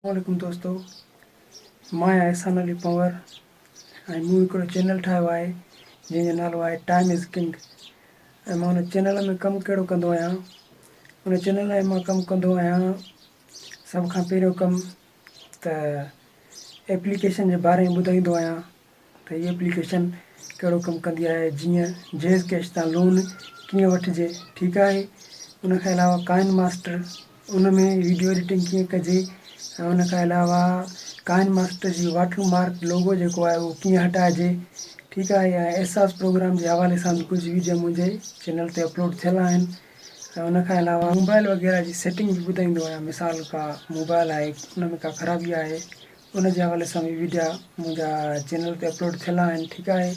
السلام عليڪم دوستو مان آهيان احسان علي پنور ۽ مون هڪڙو چينل ٺاهيو آهي جنهن جو نالو آهي ٽائيم از ڪنگ ۽ مان ان چينل ۾ ڪم ڪهڙو ڪندو آهيان ان چينل ۾ مان ڪم ڪندو آهيان سڀ کان پهريون ڪم ته ايپليڪيشن جي باري ۾ ٻڌائيندو آهيان ته هي اپليڪيشن ڪهڙو ڪم ڪندي آهي جيئن جيز ڪيش تان لون ڪيئن وٺجي ٺيڪ آهي ان کان علاوه ڪائن ماسٽر ان ۾ ويڊيو ايڊيٽنگ ڪيئن ڪجي ۽ ان کان علاوه ڪائن ماسٽر جي واٽر مارڪ لوگو جيڪو آهي اهو ڪيئن هٽائجي ٺيڪ آهي ۽ احساس پروگرام جي حوالي سان به ڪجهه ويڊيو منهنجي چينل تي اپلوڊ ٿيل آهن ۽ ان کان علاوه موبائل وغيره جي سيٽنگ به ٻڌائيندو آهيان مثال ڪا موبائل آهي ان ۾ ڪا خرابي آهي ان جي حوالي سان به ويڊيا منهنجا چينل تي اپلوڊ ٿيل آهن ٺيڪ آهي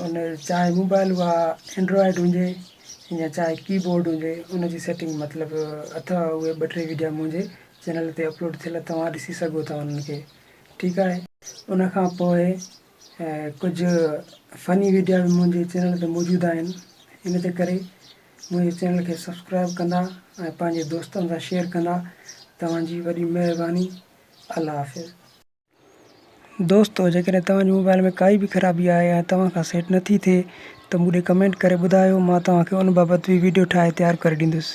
ان چاهي موبائل اها اينڊرائيڊ هجي يا چاهي ڪي بورڊ هجي ان جي سيٽنگ مطلب اٿا اهي ٻه ٽي ويڊيا منهنجي چينل تي اپلوڊ ٿيل توهان ڏسي سگهو ٿا انهن کي ٺيڪ آهي ان کان پوء ڪجهه فني ويڊيا به منهنجي چينل تي موجود آهن ان جي ڪري منهنجي چينل کي سبسڪرائب ڪندا ۽ پنهنجي دوستن سان شيئر ڪندا توهان جي وڏي مهرباني الله حافظ. دوستو جيڪڏهن توهان جي موبائيل ۾ ڪائي به خرابي آهي يا توهان کان سيٽ نٿي ٿئي ته مون ڏي ڪمينٽ ڪري ٻڌايو مان توهان کي ان بابت به ويڊيو ٺاهي تيار ڪري ڏيندس.